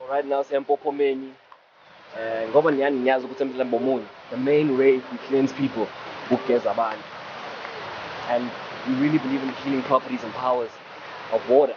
Alright now siyampophomeni eh ngoba niyani niyazi ukuthi emhlabeni bomunye the main way we cleanse people ukugeza abantu and we really believe in healing properties and powers of water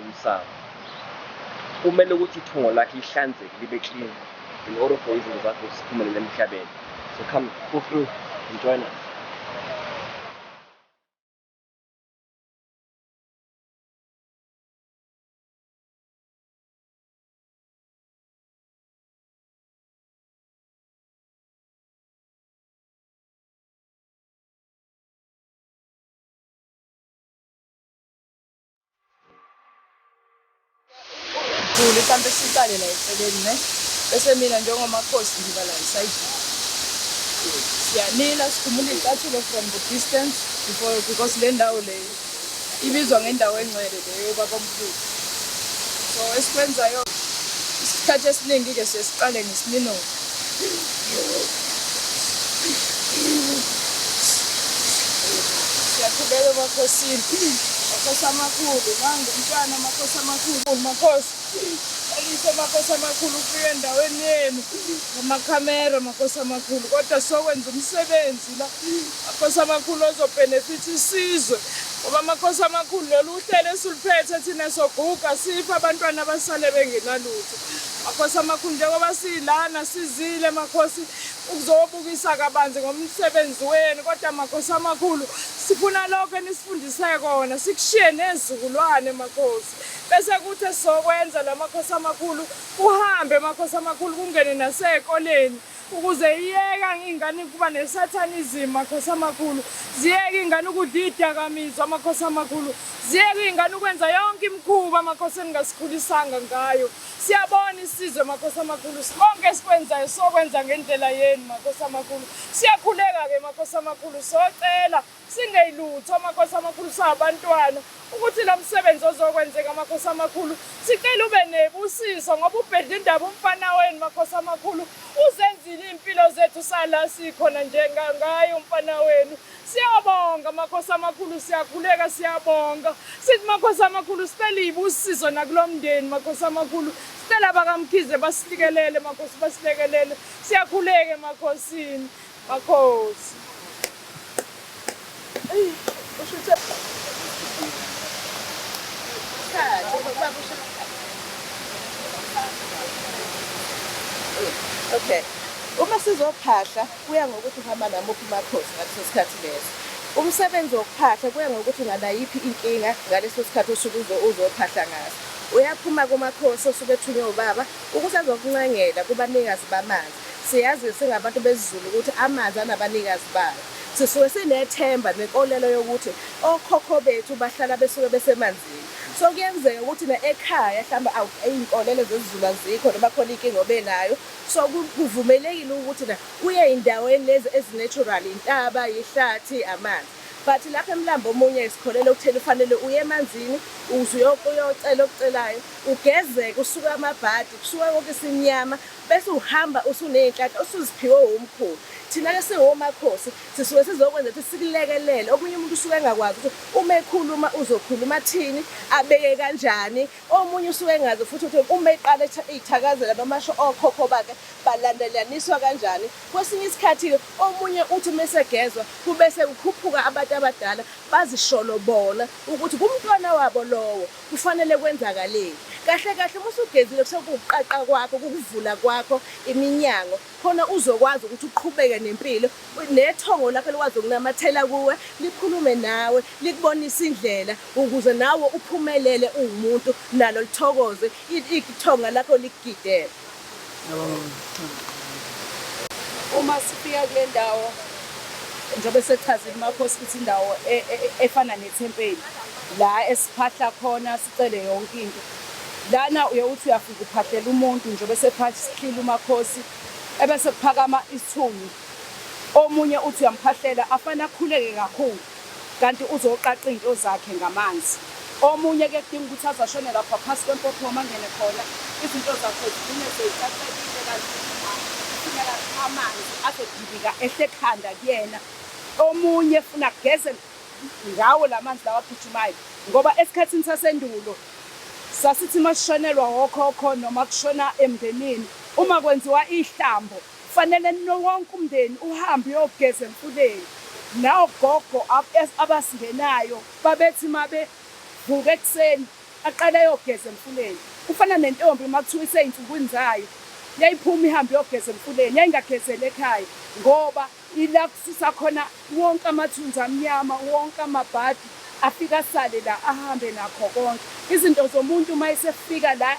Umsamo kumele ukuthi ithungo lakhe lihlanzeke libe clean in order for izinto zakhe ukuthi ziphumelele emhlabeni. So come pull through and join us. Thuli mhlampe siqale la eceleni ne bese mina njengomakhosi ngiba la esayidini siyanila sikhumula iy'cathulo from the distance before because le ndawo le ibizwa ngendawo engcwele leyo baba omkhulu so esikwenzayo isikhathi esiningi-ke siye siqale ngesinino siyakhuleka emakhosini makhosi amakhulu manje umntwana amakhosi amakhulu makhosi elise makhosi amakhulu ufike endaweni yenu ngamakhamera makhosi amakhulu kodwa sokwenza umsebenzi la makhosi amakhulu ozobhenefitha isizwe ngoba amakhosi amakhulu lolu uhlelo esiluphethe thina soguga sipha abantwana abasale bengenalutho Makhosi amakhulu njengoba silana sizile makhosi ukuzobukisa kabanzi ngomsebenzi wenu kodwa makhosi amakhulu sifuna lokho enisifundise kona sikushiye nezizukulwane makhosi bese kuthi esizokwenza la makhosi amakhulu kuhambe makhosi amakhulu kungene nasezikoleni Ukuze iyeka ingane ukuba nesathanism makhosi amakhulu, ziyeke ingane ukudla idakamizwa makhosi amakhulu, ziyeke ingane ukwenza yonke imikhuba makhosi eningasikhulisanga ngayo. Siyabona isizwe makhosi amakhulu, konke esikwenzayo sokwenza ngendlela yenu makhosi amakhulu. Siyakhuleka ke makhosi amakhulu, socela Singeyilutho amakhosi amakhulu sabantwana ukuthi lo msebenzi ozokwenzeka amakhosi amakhulu sicela ube nebusiso ngoba ubhedla indaba umfana wenu makhosi amakhulu uzenzile iy'mpilo zethu sala sikhona njengangaye umfana wenu siyabonga makhosi amakhulu siyakhuleka siyabonga sithi makhosi amakhulu sicela ibusiso nakulo mndeni makhosi amakhulu sicela bakamkhize basilikelele makhosi basilekelele siyakhuleke emakhosini Makhosi. Eyi, usho ukuthi Okay. Uma sizophahla kuya ngokuthi uhamba namuphi umakhosi ngaleso sikhathi leso. Umsebenzi wokuphahla kuya ngokuthi unganayiphi inkinga ngaleso sikhathi osuke uzo- uzophahla ngaso. Uyaphuma kumakhosi osuke ethunywe ubaba ukuthi azokuncengela kubanikazi bamanzi. Siyazi singabantu besiZulu ukuthi amanzi anabanikazi bawo. Sisuke sinethemba nenkolelo yokuthi okhokho bethu bahlala besuke besemanzini. So kuyenzeka ukuthi na ekhaya hlamba awu izinkolelo zesiZulu azikho noma khona inkinga obenayo. So kuvumelekile ukuthi na uye ezindaweni lezi ezinatural, intaba, ihlathi, amanzi. But lapha eMlambo omunye sikholelwa ukutheni ufanele uye emanzini ukuze uyocela okucelayo, ugezeke usuke amabhadi, kusuka konke isimnyama. Bese uhamba usuney'nhlanhla osuziphiwe wumkhulu. Thina-ke siwomakhosi sisuke sizokwenza ukuthi sikulekelele. Omunye umuntu usuke engakwazi ukuthi uma ekhuluma uzokhuluma athini, abeke kanjani. Omunye usuke engazi futhi ukuthi uma eqala iy'thakazela noma asho okhokho bakhe balandelaniswa kanjani. Kwesinye isikhathi-ke omunye uthi uma esegezwa kube sekukhuphuka abantu abadala bazisholo bona ukuthi kumntwana wabo lowo. Kufanele kwenzakaleni? Kahle kahle uma usugezile kusekuwukuqaqa kwakho, kukuvula kwakho iminyango khona uzokwazi ukuthi uqhubeke nempilo, nethongo lakho likwazi ukunamathela kuwe, likhulume nawe, likubonise indlela ukuze nawe uphumelele uwumuntu, nalo lithokoze ithonga lakho likugidele. Uma sifika kule ndawo njengoba esechazile uMakhosi ukuthi indawo e, e, e, efana nethempeli la esiphahla khona sicele yonke into lana uye uthi uyafika uphahlela umuntu njengoba esephahlile uMakhosi ebese kuphakama isithunzi omunye uthi uyamphahlela afana akhuleke kakhulu Kanti uzoqaqa izinto zakhe ngamanzi. Omunye ke kudinga ukuthi aze ashone lapha phasi kwempophoma angene khona izinto zakhe zigcine seyicacekile kanti singela amanzi azodibika ehle khanda kuyena. Omunye funa kugeze ngawo lamanzi lawa agijimayo ngoba esikhathini sasendulo sasithi masishonelwa okhokho noma kushona emndenini uma kwenziwa ihlambo Kufanele nino wonke umndeni uhambe uyogeza emfuleni. Nawogogo abasingenayo babethi uma bevuka ekuseni aqale ayogeza emfuleni. Kufana nentombi uma kuthiwa isey'nsukwini zayo, yayiphuma ihambe iyogeza emfuleni, yayingagezeli ekhaya ngoba ila kususa khona wonke amathunzi amnyama, wonke amabhadi afike asale la, ahambe nakho konke. Izinto zomuntu uma esefika la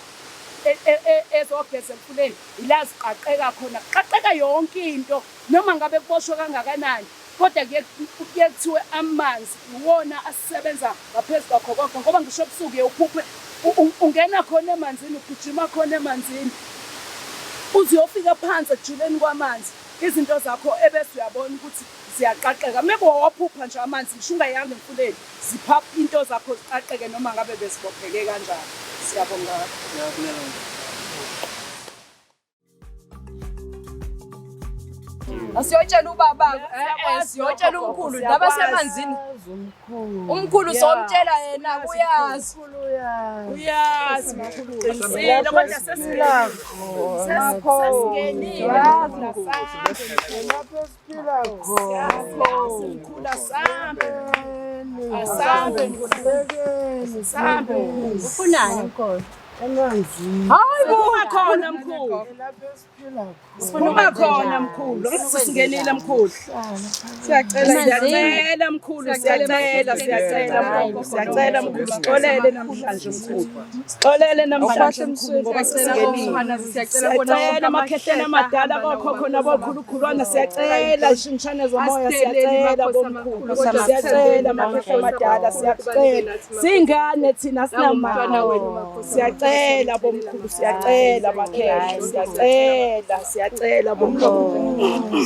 ezogeza emfuleni Ila ziqaqeka khona, kuqaqeka yonke into noma ngabe kuboshwe kangakanani kodwa kuye kuye kuthiwe amanzi iwona asebenza ngaphezu kwakho konke ngoba ngisho ebusuku uye uphuphe u- u- ungena khona emanzini ugijima khona emanzini uze uyofika phansi ekujuleni kwamanzi izinto zakho ebese uyabona ukuthi ziyaqaqeka mekuwa waphupha nje amanzi ngisho ungayanga emfuleni zipha into zakho ziqaqeke noma ngabe bezibopheke kanjani siyabonga asiyotshela ubaba eh, eh, siyotshela umkhulu laba semanzini umkhulu somtshela yena uyazi uyazi mkhulu qinisile kodwa sesilakho sesingenile lapho ufunani hayi buma khona mkhulu buma khona mkhulu singenile mkhulu siyacela siyacela mkhulu siyacela siyacela mkhulu siyacela mkhulu sixolele namhlanje mkhulu Sixolele namhlanje mkhulu ngoba sisingenile. Siyacela amakhehleni amadala kokhokho nabokhulukhulwana siyacela ishimshane zomoya siyacela bomkhulu. Siyacela amakhehleni amadala siyacela. Singane thina sinamama wenu. Siyacela bomkhulu siyacela amakhehla siyacela siyacela bomkhulu.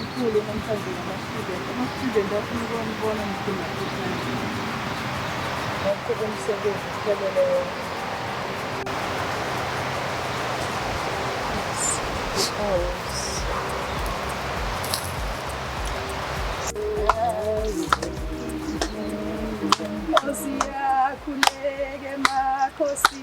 Mkhulu namhlanje ngama-student. Ama-student afuna ukwambona ngidinga ikhadi. Ngaqhuba umsebenzi kuphelele wonke. Nkosi yakhuleke makhosi